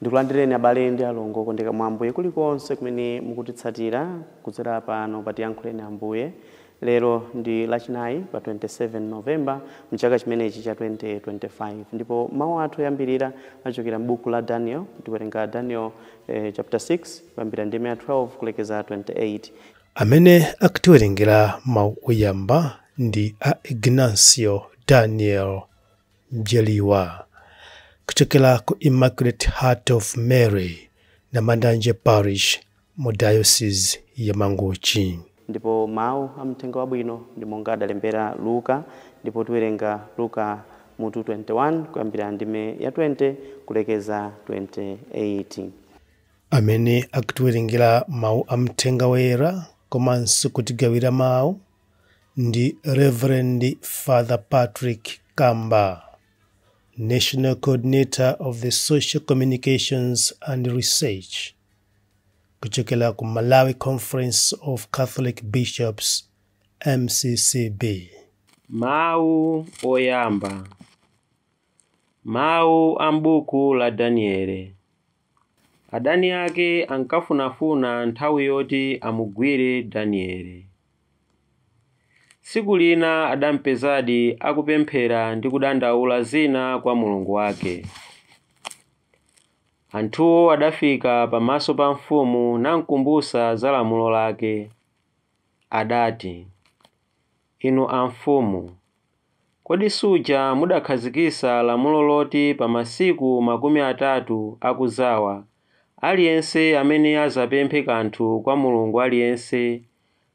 Ndikulandireni abale ndi alongo okondeka mwa Ambuye kulikonse kumene mukutitsatira kudzera pano pa Tiyankhuleni Ambuye. Lero ndi Lachinayi pa 27 November m'chaka chimenechi cha 2025 ndipo mawu athu oyambirira achokera m'buku la Daniel. Tiwerenga Daniel chapter 6 kuyambira ndime ya 12 kulekeza 28. Amene akutiwerengera mawu oyamba ndi a Ignacio Daniel Mjeliwa kuchokera ku Immaculate Heart of Mary Namandanje Parish mu Diocese ya Mangochi. Ndipo mau a Mthenga Wabwino ndi monga adalembera Luka, ndipo tiwerenga Luka mutu 21 kuyambira ndime ya 20 kulekeza 28. Amene akutiwerengera mau a Mthenga Woyera komanso kutigawira mau ndi Rev. Father Patrick Kamba, National Coordinator of the Social Communications and Research kuchokera ku Malawi Conference of Catholic Bishops MCCB. Mawu oyamba. Mawu a m'buku la Daniele. Adani ake ankafunafuna nthawi yoti amugwire Daniele. Tsiku lina adampezadi akupemphera ndi kudandaula zina kwa Mulungu wake. Anthuwo adafika pamaso pa mfumu namkumbutsa za lamulo lake. Adati, Inu amfumu, kodi suja mudakhazikitsa lamulo loti pa masiku makumi atatu akudzawa, aliyense amene adzapemphe kanthu kwa mulungu aliyense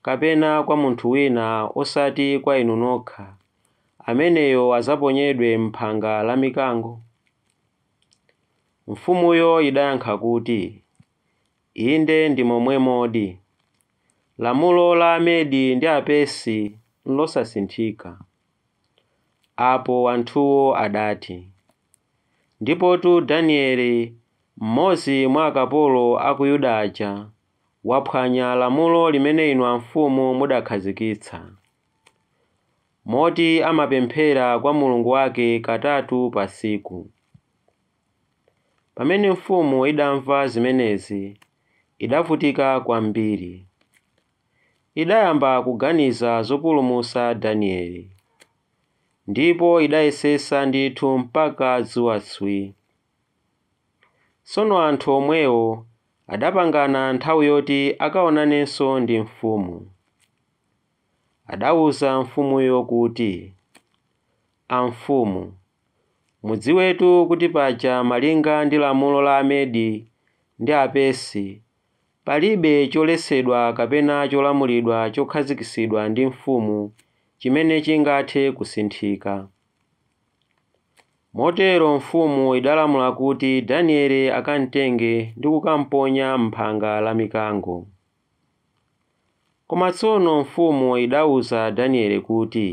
kapena kwa munthu wina osati kwa inu nokha, ameneyo adzaponyedwe m'phanga la mikango? Mfumuyo idayankha kuti. Inde, ndi momwemodi. Lamulo la Amedi ndi Apersi nlosasinthika. Apo anthuwo adati, Ndipotu Daniele, mmodzi mwa akapolo a ku Yuda aja, waphwanya lamulo limene inu amfumu mudakhazikitsa, moti amapemphera kwa Mulungu wake katatu pa tsiku. Pamene mfumu idamva zimenezi, idavutika kwambiri. Idayamba kuganiza zopulumutsa Daniele, ndipo idayesetsa ndithu mpaka dzuwa tswi. Tsono anthu omwewo adapangana nthawi yoti akaonanenso ndi mfumu. Adauza mfumuyo kuti, Amfumu. Mudziwetu kuti paja malinga ndi lamulo la Amedi ndi Apersi, palibe choletsedwa kapena cholamulidwa chokhazikitsidwa ndi mfumu chimene chingathe kusinthika. Motero mfumu idalamula kuti Daniele akamtenge ndi kukamponya m'phanga la mikango. Koma tsono mfumu idauza Daniele kuti,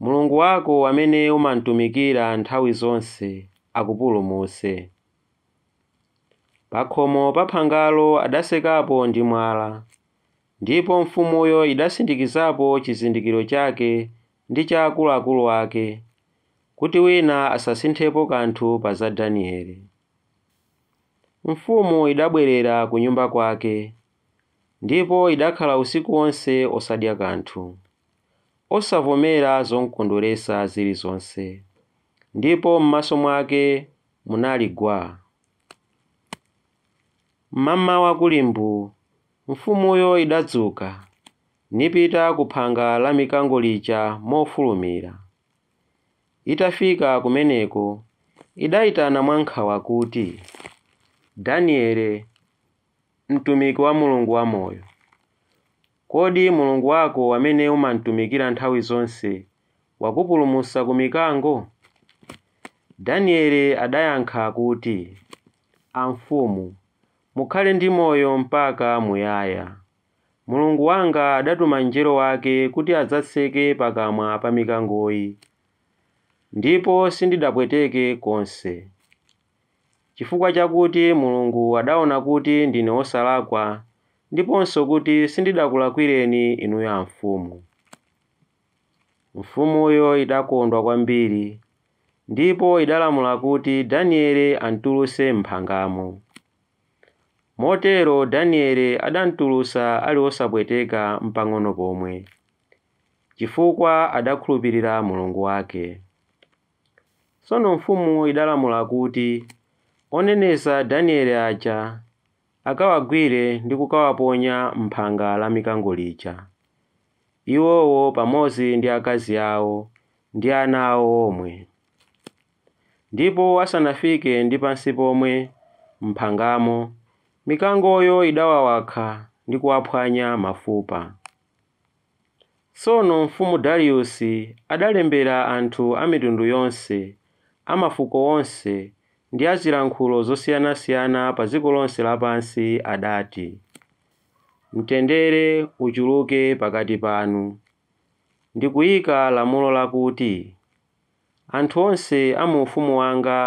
Mulungu wako amene umamtumikira nthawi zonse akupulumutse. Pakhomo pa phangalo adatsekapo ndi mwala, ndipo mfumuyo idasindikizapo chizindikiro chake ndi cha akuluakulu ake, kuti wina asasinthepo kanthu pa za Daniele. Mfumu idabwerera kunyumba kwake, ndipo idakhala usiku wonse osadya kanthu, osavomera zomkondweretsa zilizonse, ndipo m'maso mwake munali gwa. M'mamawa kuli mbuu, mfumuyo idadzuka, nipita ku phanga la mikango lija mofulumira. Itafika kumeneko, idaitana mwankhawa kuti, Daniele, mtumiki wa Mulungu wamoyo, kodi Mulungu wako amene umamtumikira nthawi zonse wakupulumutsa ku mikango? Daniele adayankha kuti, Amfumu, mukhale ndi moyo mpaka muyaya! Mulungu wanga adatuma mngelo wake kuti adzatseke pakamwa pa mikangoyi, ndipo sindidapweteke konse. Chifukwa chakuti Mulungu adaona kuti ndine wosalakwa ndiponso kuti sindidakulakwireni inuyo amfumu. Mfumuyo idakondwa kwambiri, ndipo idalamula kuti Daniele amtulutse m'phangamo. Motero Daniele adamtulutsa ali wosapweteka mpang'ono pomwe, chifukwa adakhulupirira Mulungu wake. Tsono mfumu idalamula kuti oneneza Daniele aja akawagwire ndi kukawaponya m'phanga la mikango lija, iwowo pamodzi ndi akazi ao ndi ana ao omwe. Ndipo asanafike ndi pansi pomwe m'mphangamo, mikangoyo idawawakha ndi kuwaphwanya mafupa. Tsono mfumu Dariusi adalembera anthu a mitundu yonse, a mafuko onse ndi a zilankhulo zosiyanasiyana pa dziko lonse lapansi, adati, Mtendere uchuluke pakati panu. Ndikuika lamulo lakuti. Anthu onse a mu ufumu wanga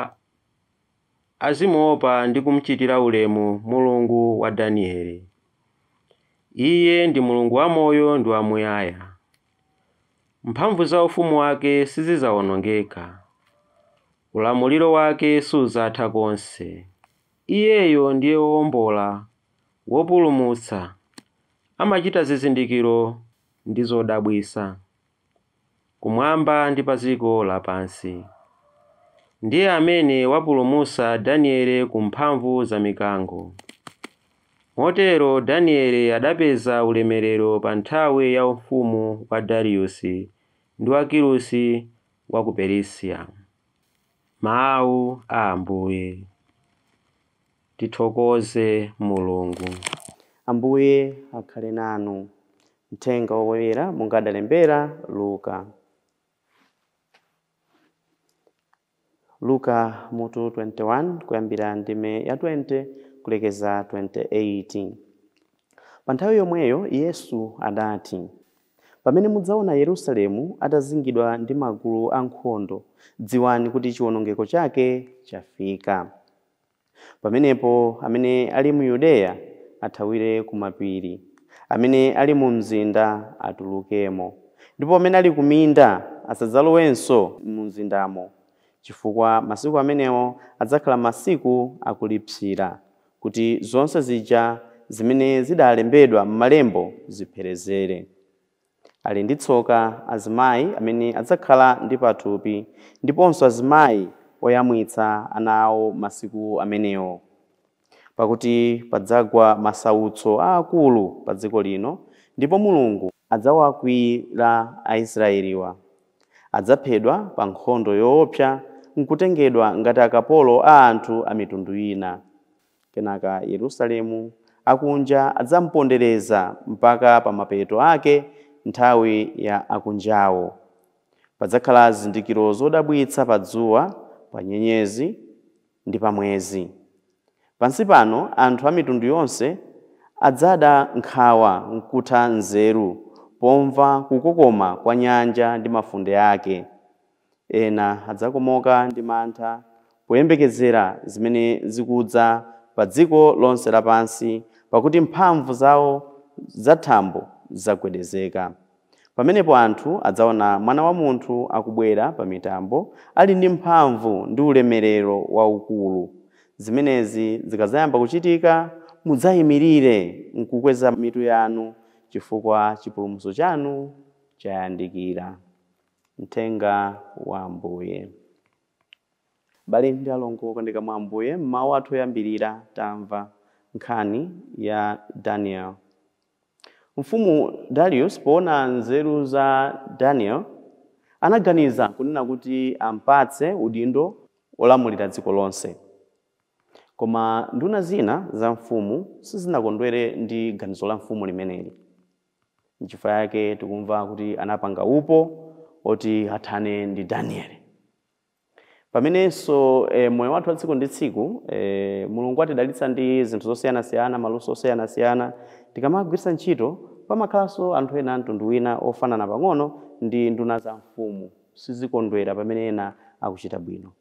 azimuopa ndi kum'chitira ulemu Mulungu wa Danieli. Iye ndi Mulungu wamoyo ndi wamuyaya. Mphamvu za ufumu wake sizidzawonongeka. Ulamuliro wake sudzatha konse. Iyeyo ndiye Wowombola, Wopulumutsa. Amachita zizindikiro ndi zodabwitsa. kumwamba ndi pa dziko lapansi. Ndiye amene wapulumutsa Daniele ku mphamvu za mikango. Motero Daniele adapeza ulemerero pa nthawi ya ufumu wa Dariusi ndi wa Kirusi wa ku Perisiya. Mau a Ambuye. Tithokoze Mulungu. Ambuye akhale nanu. Mthenga Woyera monga adalembera Luka. Luka mutu 21 kuyambira ndime ya 20 kulekeza 28. Pa nthawi yomweyo Yesu adati, Pamene mudzaona Yerusalemu atazingidwa ndi magulu ankhondo, dziwani kuti chiwonongeko chake chafika. Pamenepo amene ali mu Yudeya athawire kumapiri, amene ali mu mzinda atulukemo, ndipo amene ali kuminda asadzalowenso mumzindamo, chifukwa masiku amenewo adzakhala masiku akulipsira, kuti zonse zija zimene zidalembedwa m'malembo zipherezere. Ali ndi tsoka azimayi amene adzakhala ndi pathupi ndiponso azimayi oyamwitsa ana awo masiku amenewo. Pakuti padzagwa masautso aakulu padziko lino ndipo Mulungu adzawakwiyira Aisraeliwa. Adzaphedwa pa nkhondo yoopsa n'kutengedwa ngati akapolo a anthu a mitundu ina. Kenaka Yerusalemu akunja adzampondereza mpaka pa mapeto ake nthawi ya akunjawo. Padzakhala zizindikiro zodabwitsa pa dzuwa, pa nyenyezi, ndi pa mwezi. Pansi pano anthu a mitundu yonse adzada nkhawa n'kutha nzeru pomva kukokoma kwa nyanja ndi mafunde ake. Ena adzakomoka ndi mantha poyembekezera zimene zikudza padziko lonse lapansi, pakuti mphamvu zawo zathambo zidzagwedezeka. Pamenepo anthu adzaona Mwana wa munthu akubwera pamitambo ali ndi mphamvu ndi ulemerero waukulu. Zimenezi zikadzayamba kuchitika, mudzaimirire n'kukweza mitu yanu chifukwa chipulumutso chanu chayandikira. Mthenga wa Ambuye. Abale ndi alongo okondeka mwa Ambuye, m'mawu athu oyambirira tamva nkhani ya Danieli. Mfumu Dariusi poona nzeru za Danieli, anaganiza kunena kuti am'patse udindo wolamulira dziko lonse. Koma nduna zina za mfumu sizinakondwere ndi ganizo la mfumu limeneli. Nchifukwa yake tikumva kuti anapanga upo oti athane ndi Danieli. Pamenenso eh, moyo wathu wa tsiku ndi tsiku eh, Mulungu atidalitsa ndi zinthu zosiyanasiyana, maluso osiyanasiyana. Tikamagwiritsa ntchito pamakhalanso anthu ena a mtundu wina ofanana pang'ono ndi nduna za mfumu, sizikondwera pamene ena akuchita bwino.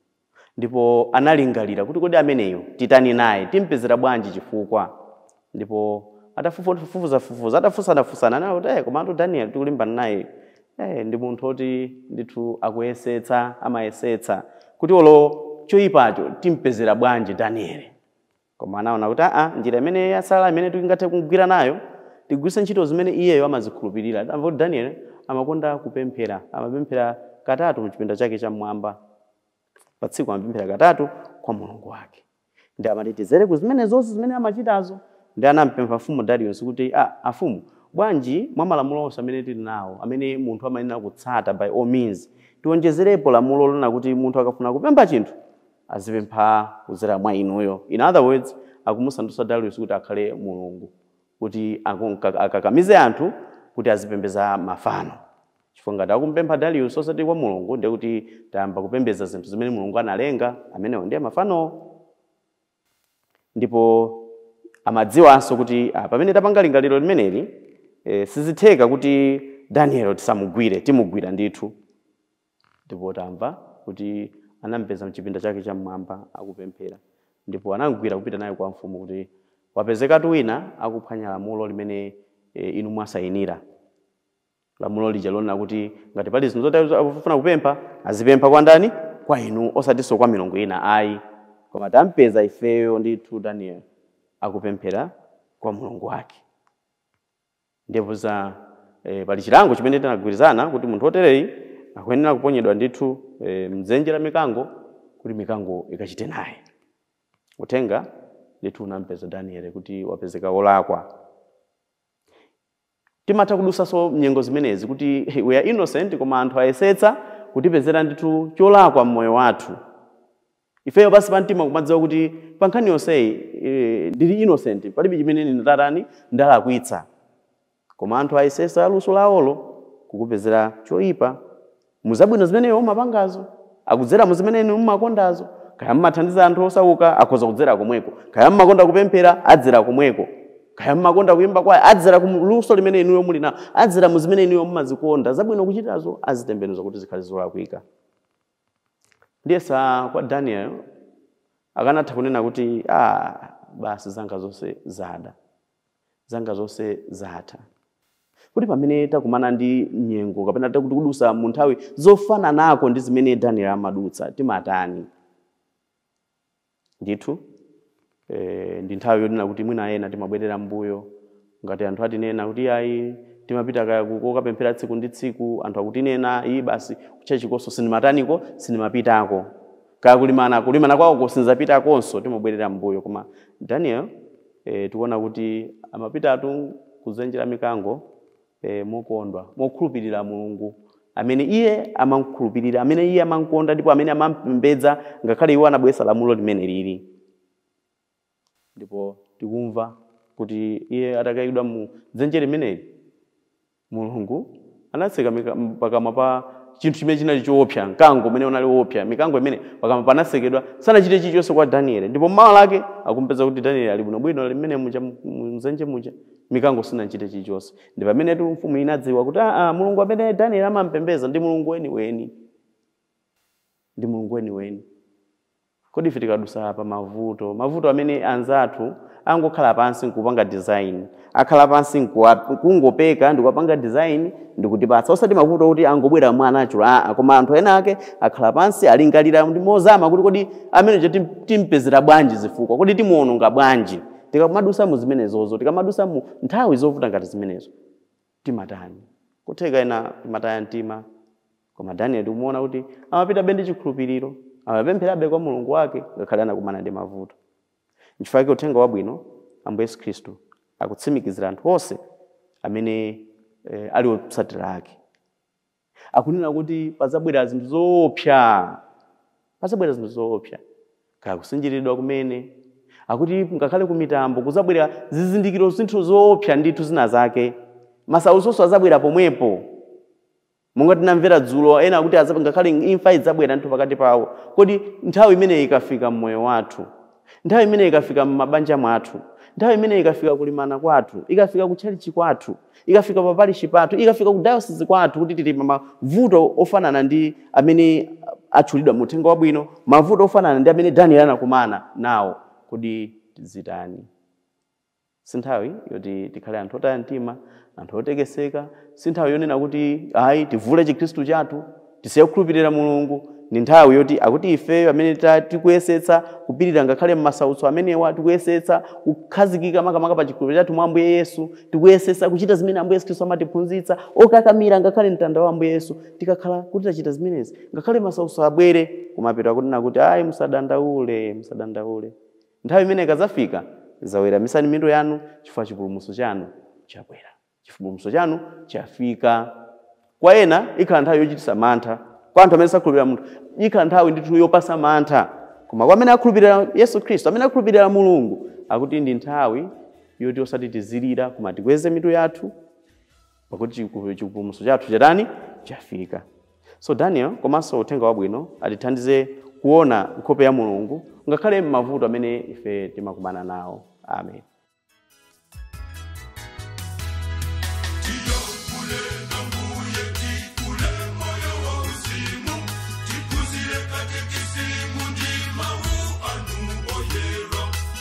Ndipo analingalira kuti kodi ameneyo titani naye, timpezera bwanji chifukwa? Ndipo atafufuzafufuza, atafunsanafunsana, anaona kuti, eh, komatu Danieli tikulimbana naye, eh, ndi munthu oti ndithu akuyesetsa, amayesetsa kuti olo choyipacho timpezera bwanji Danieli. Koma anaona kuti aa njira imene yatsala imene tingathe kugwira nayo tigwiritse ntchito zimene iyeyo amazikhulupirira. Tamva kuti Danieli amakonda kupemphera. Amapemphera katatu mchipinda chake chammwamba. Pa tsiku amapemphera katatu kwa Mulungu wake. Ndiye anati tidzere ku zimenezozi zimene amachitazo. Ndiye anampempha mfumu Dariusi kuti a amfumu bwanji mwa malamulo onse amene tili nawo amene munthu amayenera kutsata by all means tionjezerepo lamulo lonena kuti munthu akafuna kupempha chinthu azipempha kudzera mwa inuyo. In other words, akumusandutsa Darius kuti akhale mulungu kuti aku- mka- akakamize anthu kuti azipembedza mafano. Chifukwa ngati akumupempha Darius osati kwa mulungu ndiye kuti tayamba kupembedza zinthu zimene mulungu analenga, amenewo ndiye mafanowo. Ndipo amadziwanso kuti ah, pamene tapanga lingaliro limeneli eh, sizitheka kuti Daniel tisamugwire, timugwira ndithu. Ndipo tamva kuti anampeza m'chipinda chake cham'mwamba akupemphera, ndipo anamgwira kupita naye kwa mfumu, kuti, Wapezekatu wina akuphwanya lamulo limene inu mwasayinira, lamulo lija lonena kuti ngati pali zinthu zoti akufuna kupempha, azipempha kwa ndani? Kwa inu, osatinso kwa milungu ina ayi. Koma tampeza ifeyo ndithu Danieli akupemphera kwa Mulungu wake. ndevu za e, pali chilango chimene tinagwirizana kuti munthu wotereyi akuyenera kuponyedwa ndithu e, mdzenje la mikango kuti mikango ikachite naye uthenga ndithu unampeza daniele kuti wapezeka wolakwa timatha kudutsanso mnyengo zimenezi kuti hey, we are innocent koma anthu ayesetsa kutipezera ndithu cholakwa mmoyo wathu Ifeyo pansi pa mtima kumadziwa kuti pa nkhani yonseyi eh, ndili innocent, palibe chimene ine ndatani ndalakwitsa, koma anthu ayesetsa luso lawolo kukupezera choipa mu zabwino zimene iwe umapangazo, akudzera mu zimene inu mumakondazo. Kaya mmathandiza anthu osauka, akhoza kudzera komweko. Kaya mmakonda kupemphera, adzera komweko. Kaya mmakonda kuimba kwaya, adzera ku luso limene inuyo muli nalo, adzera mu zimene inuyo mmazikonda. Zabwino kuchitazo azitembenuza kuti zikhale zolakwika. Ndiyesa kwa Daniel akanatha kunena kuti ah, basi zanga zonse zada, zanga zonse zatha. Kuti pamene takumana ndi nyengo kapena tikudutsa mu nthawi zofananako ndi zimene Daniel amadutsa, timatani? Ndithu, e, ndi nthawi yonena kuti mwina ena timabwerera m'mbuyo ngati anthu atinena kuti iyayi timapita kaya ku kokapemphera tsiku ndi tsiku, anthu akutinena, ii basi kutchalitchikonso sindimataniko, sindimapitako. Kaya kulimana, kulimana kwawoko sindidzapitakonso, timabwerera m'mbuyo. Koma Daniel, e, tikuona kuti amapitatu kudzenje la mikango. e, mokondwa mokhulupirira mulungu amene iye amamkhulupirira amene iye amamkonda ndipo amene amampembedza ngakhale iwo anabweretsa lamulo limene lili ndipo tikumva kuti iye atakaikidwa mu dzenje limeneli mulungu anatseka mika- m- pakamwa pa chinthu chimene chinali choopsa mkango umene unali woopsa mikango imene pakamwa panatsekedwa sanachite chilichonse kwa danieli ndipo mmawa lake akumpeza kuti danieli ali bwinobwino ali mmene muja mu- mu- mdzenje muja Mikango sinachite chilichonse. Ndi pamenetu mfumu inadziwa kuti aa, Mulungu amene Danieli amamupembedza ndi Mulungu weniweni. Ndi Mulungu weniweni. Kodi ife tikadutsa pa mavuto, mavuto amene anzathu angokhala pansi nkupanga design, akhala pansi nkuwa- kungopeka ndikuwapanga design ndikutipatsa, osati mavuto oti angobwera mwa natural aa, koma anthu ena ake akhala pansi alingalira ndi mozama kuti kodi ameneyo tim- timpezera bwanji zifukwa, kodi timuononga bwanji? tikamadutsa mu zimenezozo tikamadutsa mu nthawi zovuta ngati zimenezo timatani kutheka ena timataya mtima koma daniel tikumuona kuti amapitabe ndi chikhulupiriro amapempherabe kwa mulungu wake ngakhale anakumana ndi mavuto nchifukwa chake uthenga wabwino ambuye yesu khristu akutsimikizira anthu onse amene eh, ali otsatira ake akunena kuti pazabwera zinthu zoopsa pazabwera zinthu zoopsa kaya kusinjiridwa kumene akuti ngakhale ku mitambo kuzabwera zizindikiro zinthu zoopsa ndithu zina zake masautsonso azabwera pomwepo monga tinamvera dzulo ena akuti ngakhale imfa idzabwera ndithu pakati pawo kodi nthawi imeneyi ikafika mmoyo wathu Nthawi imeneyi ikafika mmabanja mwathu, nthawi imeneyi ikafika kulimana kwathu, ikafika kutchalitchi kwathu, ikafika pa parishi pathu, ikafika ku dayosisi kwathu kuti tili mmavuto ofanana ndi amene atchulidwa mu uthenga wabwino, mavuto ofanana ndi amene Danieli anakumana nawo, kodi tizitani? Si nthawi yoti tikhale anthu otaya mtima, anthu otekeseka. Si nthawi yonena kuti, ayi, tivule chikhristu chathu, tisiye kukhulupirira Mulungu. Ndi nthawi yoti akuti ifeyo amene tikuyesetsa kupirira ngakhale m'masautso amenewa, tikuyesetsa kukhazikika makamaka pa chikhulupiriro chathu mwa Ambuye Yesu, tikuyesetsa kuchita zimene Ambuye Yesu Khristu amatiphunzitsa, okakamira ngakhale mtanda wa Ambuye Yesu. Tikakhala kuti tachita zimenezi, ngakhale masautso abwere, kumapeto akunena kuti, ayi, musadandaule, musadandaule. Nthawi imene ikadzafika, dzaweramitsani mitu yanu, chifukwa chipulumutso chanu chabwera. Chipulumutso chanu chafika. Kwa ena, ikhala nthawi yochititsa mantha. Kwa anthu amene sakhulupirira munthu, ikhala nthawi ndithu yopatsa mantha. Koma kwa amene akhulupirira Yesu Khristu, amene akhulupirira Mulungu, akuti ndi nthawi yoti osati tizilira, koma tikweze mitu yathu. pakuti chiku- chipulumutso chathu chatani chafika so daniel komanso uthenga wabwino atithandize kuona nkhope ya mulungu ngakhale m'mavuto amene ife timakumana nawo amen